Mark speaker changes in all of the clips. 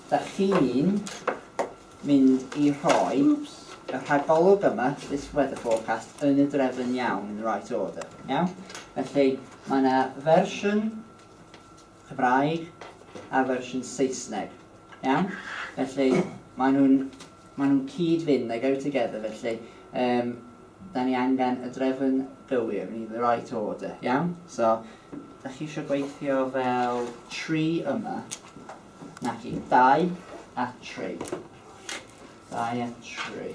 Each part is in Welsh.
Speaker 1: Dach chi'n mynd i rhoi y rhagolwg yma, this weather forecast, yn y drefn iawn, in the right order, iawn? Felly, mae yna fersiwn Cymraeg a fersiwn Saesneg. Iawn? Felly, maen nhw'n, maen nhw'n cyd-fynd, they go together, felly, um, da ni angen y drefn gywir, we need the right order, iawn? So, da chi eisiau gweithio fel tri yma, naci, dau a tri. Dau a tri.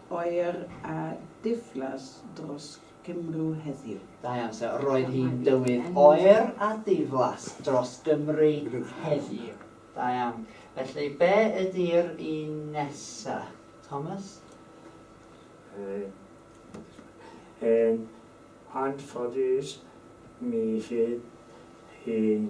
Speaker 1: oer
Speaker 2: a diflas dros Gymru heddiw. Da iawn, so roedd
Speaker 1: hi'n dywydd oer a diflas dros Gymru heddiw. Da iawn. Felly, be ydy'r un nesa? Thomas? Uh,
Speaker 3: yn anffodus, mi fydd hi'n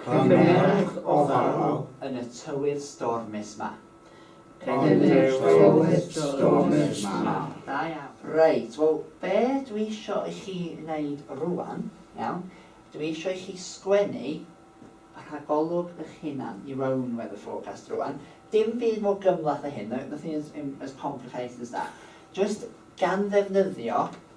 Speaker 1: Cymerwch
Speaker 4: ofalwr yn y tywydd
Speaker 1: stormus 'ma. Yn y tywydd
Speaker 4: stormus 'ma. Da iawn.
Speaker 1: Reit, wel, be dwi isio i chi wneud rŵan, iawn, dwi isio i chi sgwennu y rhagolwg eich hunan, your own weather forecast rŵan. Dim byd mor gymhleth â hyn, nothing as complicated as that. Jyst gan ddefnyddio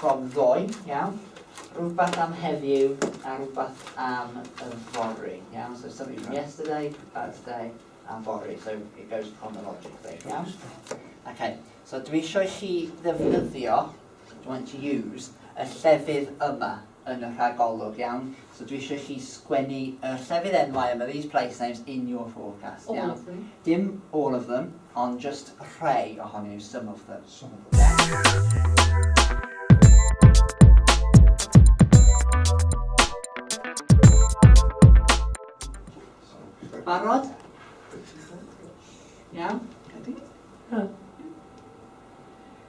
Speaker 1: From ddoe, iawn. Rhywbeth am heddiw a rhywbeth am y fory, iawn. So something from yesterday, about today, and fory. So it goes chronologically, iawn. Okay. So dwi eisiau i chi ddefnyddio, do you want to use, y llefydd yma. yn y rhagolwg, iawn? So dwi eisiau i chi sgwennu yr llefydd enwau yma, these place names in your forecast, iawn? All of them. Dim
Speaker 5: all of them,
Speaker 1: ond just rhai ohonyn nhw, some of them. Some of them. Barod? Iawn? Ready? Huh.